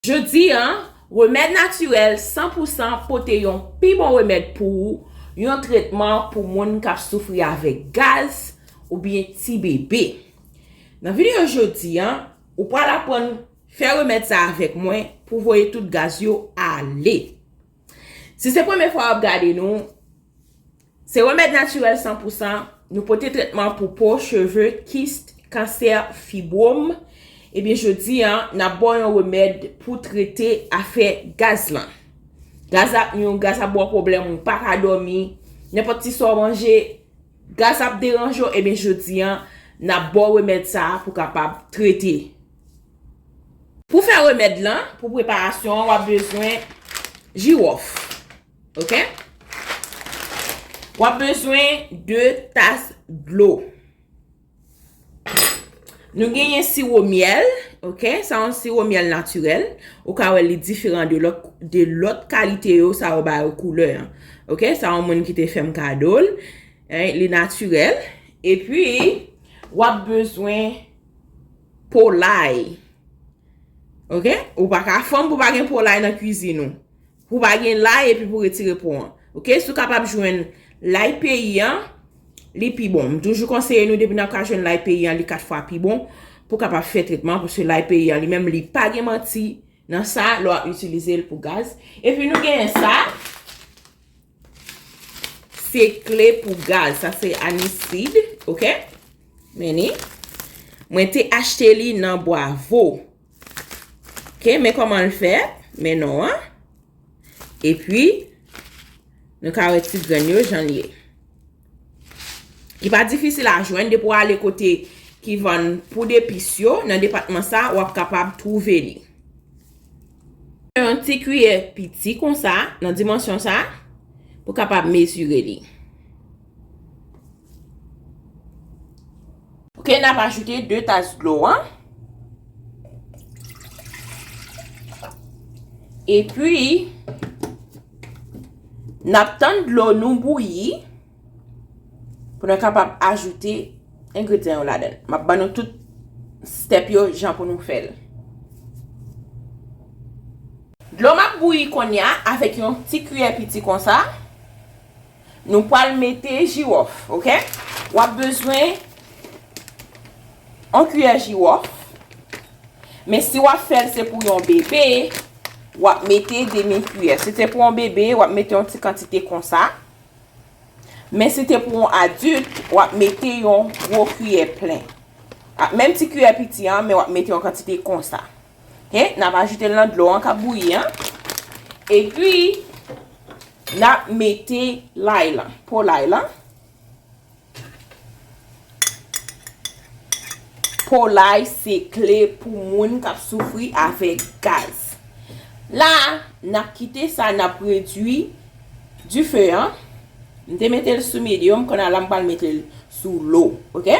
Jodi a, remèd natirèl san pou san pote yon pi bon remèd pou ou, yon tretman pou moun k ap soufri avèk gaz oubyen ti bebe. Nan videyo jodi a, ou pral aprann fè remèd sa avèk mwen pou voye tout gaz yo ale. Si se premye fwa wap gade nou, se remèd natirèl san pou san, nou pote tretman pou po, cheve, kist, kansè, fibwom, ebyen jodi an nap baw yon remèd pou trete afè gaz lan. Gaz la ap nou yon gaz ap baw pwoblèm ou pa ka dòmi, nenpòt ti sa w manje, gaz ap deranje w ebyen jodi an nap baw remèd sa pou kapab trete. Pou fè remèd lan, pou preparasyon an, wap bezwen jiwòf. Ok? Wap bezwen 2 tas dlo. Nou genyen siwo myèl, ok, sa yon siwo myèl natirèl, ou ka wè li diferan de lòt kalite yo sa yo ba yo koulè an. Ok, sa yon moun ki te fèm kado l, li natirèl, epi wap bezwen Polay Ok Ou pa ka fanm pou pa gen polay nan kwizin ou Pou pa gen lay epi pou retire po an Ok Si w kapab jwenn lay peyi an Li pi bon M toujou konseye nou depi nan ka jwenn lay peyi an li 4 fwa pi bon Pou kapab fè tretman Paske lay peyi an li menm li pa gen manti Nan sa lè w ap itilize l pou gaz Epi nou genyen sa. Se kle pou gaz. Sa se anisid. Ok. Mennen. Mwen te achte li nan bwa vo. Ok. Men koman l fè. Mennen an. E pi. Nou ka wè ti grenn yo jan liye. Li pa difisil a jwenn. Depi w ale kote ki vann poud epis yo. Nan depatman sa. Ou ap kapab twouve li. Yon ti kiyè piti kon sa, nan dimansyon sa, pou kapab mezire li. Ok, n ap ajoute 2 tas dlo an. E pi, n ap tann dlo nou bouyi. Pou nou kapab ajoute engredyan yo ladan. Map ban nou tout step yo jan pou nou fèl. Dlo m ap bouyi konnya avèk yon ti kiyè piti konsa. Nou pwal mete jiwòf ok. Wap bezwen yon kiyè jiwòf. Men si wap fèl se pou yon bebe wap mete demi kiyè. Si se pou yon bebe wap mete yon ti kantite konsa. Men si te pou yon adilt, wap mete yon gwo kiyè plen. Ak menm ti kiyè piti an, men wap mete yon kantite konsa. Ok, nap ajoute l nan dlo an kap bouyi an. E pi, nap mete lay lan, po lay lan. Polay se kle pou moun k ap soufri avèk gaz. La a, n ap kite sa n ap redui dife an. M te mete l sou medium, kounya la m pral mete l sou lo. Ok?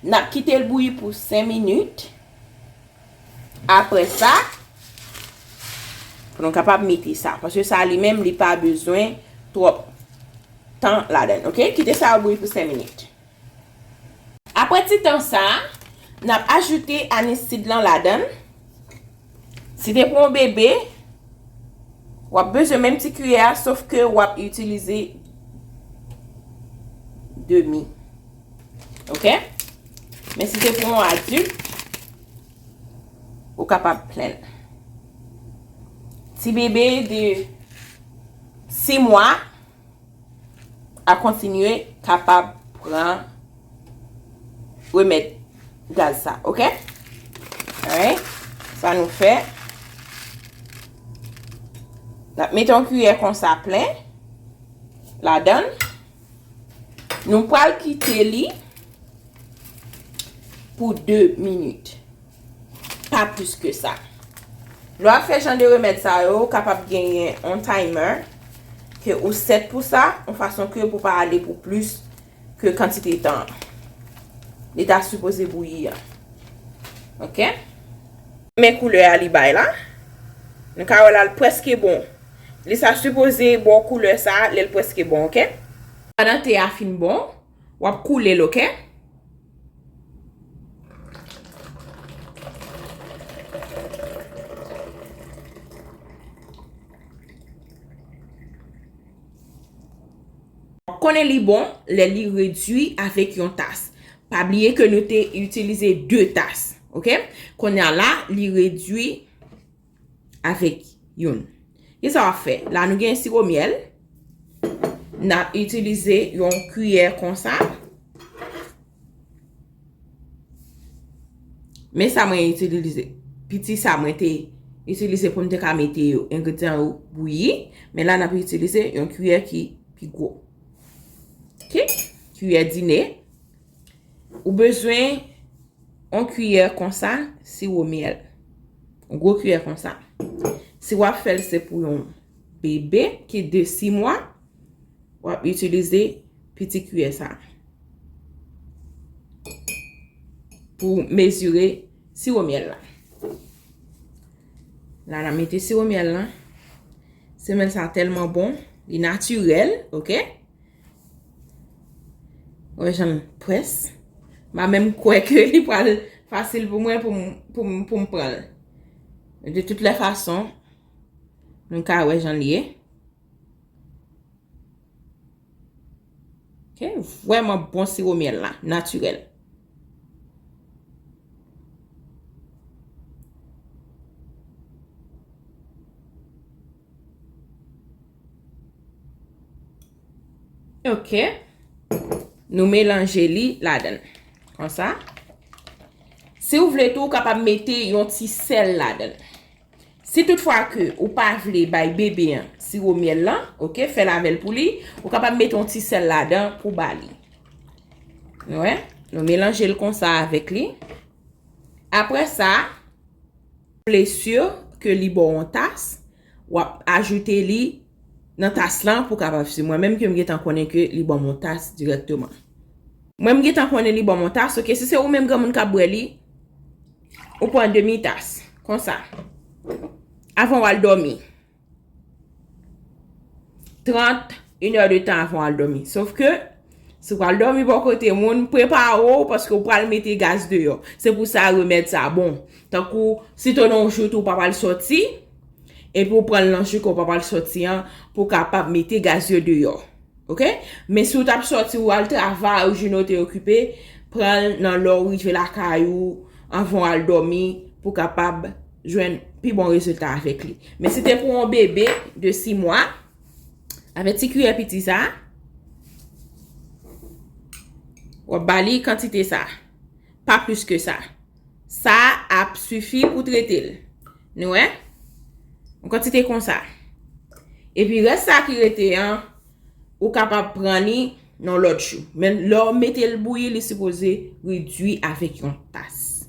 N ap kite l bouyi pou 5 minit. Apre sa, nou kapab mete sa. Paske sa li menm li pa bezwen twòp tan ladan. Ok, kite sa bouyi pou 5 minit. Apre ti tan sa, n ap ajoute anisid lan ladan. Si te pou yon bebe, w ap bezwen menm ti kiyè a, sof ke w ap itilize demi. Ok? Men si se pou yon adilt, ou kapab plenn. Ti bebe de 6 mwa a kontinye kapab pran remèd gaz sa. Ok? Alright? Sa nou fè. Mete yon kuyè konsa plen. La dan. Ok? Nou pral kite li pou 2 minit. Pa plis ke sa. Lè w ap fè jan de remèd sa yo, ou kapab genyen yon timer ke ou set pou sa, yon fason ke pou pa ale pou plis ke kantite tan li ta sipoze bouyi an. Ok? Men koulè a li bay la. Nou ka wè la li preske bon. Li sa sipoze baw koulè sa lèl preske bon ok. Pandan te a fin bon wap koulel ok. Wap konnen li bon lè li redwi avèk yon tas. Pa bliye ke nou te itilize 2 tas ok. Konnya la li redwi. avèk youn. Ki sa w ap fè? La nou gen siwo myèl. N ap itilize yon kiyè konsa. Men sa mwen itilize. Piti sa mwen te itilize pou m te ka mete yo. Engredyan yo bouyi. Men la n ap itilize yon kiyè ki pi gwo. Kiyè dine. Ou bezwen yon kiyè konsa siwo myèl. Yon gwo kiyè konsa. Si w ap fè l se pou yon bebe ki de 6 mwa, w ap itilize piti kiyè sa. Pou mezire siwo myèl la. La nan mete siwo myèl la. Semèl sa tèlman bon. Li natirèl, ok? Wè jan m pwès. Ma menm kwè ke li pral fasil pou mwen pou m pran l. De tout le fason, nou ka wè jan li ye. Ke vwèman bon siwo myèl la, natirèl. Ok, nou melanje li la dan. Kon sa. Si ou vle tou, ou kapab mete yon ti sèl la dan. Si tout fwa ke ou pa vle bay bebe an siwo myèl la, ok, fè lavel pou li, ou kapab mete yon ti sèl la dan pou ba li. Nou wè? Nou melanje l kon sa avèk li. Apre sa. Plesure ke li baw on tas, wap ajoute li Nan tas lan pou kapab si mwen menm ke m gentan konnen ke li banm on tas dirèkteman. Mwen m gentan konnen li banm on tas ok si se ou menm granmoun kap bwè li ou pran demi tas konsa avan wal dòmi. 30, une heure de tan avan w al dòmi. Sof ke, si w pral dòmi bò kote moun, prepare w paske w pral mete gaz deyò. Se pou sa remèd sa bon. Tankou, si to nan w jout ou pa pral sòti, epi w pran l nan jou ke w pa pral sòti an, pou w kapab mete gaz yo deyò. Ok? Men si w tap sòti ou al travay ou jounen w te okipe, pran l nan lè w rive lakay ou, anvan w al dòmi, pou w kapab. jwenn pi bon rezilta avèk li. Men si te pou yon bebe de 6 mwa, avèk ti kiyè piti sa, w ap ba li kantite sa. Pa plis ke sa. Sa ap sifi pou trete l. Nou wè? Yon kantite konsa. E pi rès sa ki rete an, ou kapab pran li Nan lòt jou. Men lè w mete l bouyi li sipoze redwi avèk yon tas.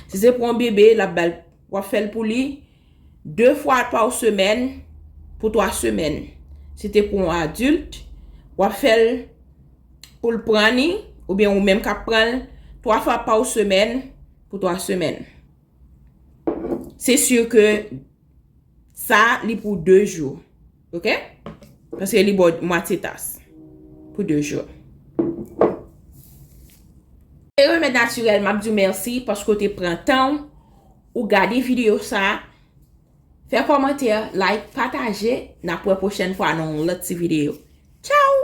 Si se pou yon bebe l ap ba l w ap fè l pou li 2 fwa pa w semèn pou 3 semèn. Si te pou yon adilt w ap fè l pou l pran li oubyen ou menm k ap pran l 3 fwa pa w semèn pou 3 semèn. Se si ke sa li pou 2 jou. Ok? Paske li bo mwatye tas. Pou 2 jou. Se remèd natirèl map diw mèsi paske ou te pran tanw ou gade video sa fè kòmantè like pataje nap wè pwochèn fwa nan yon lòt ti video tchaww.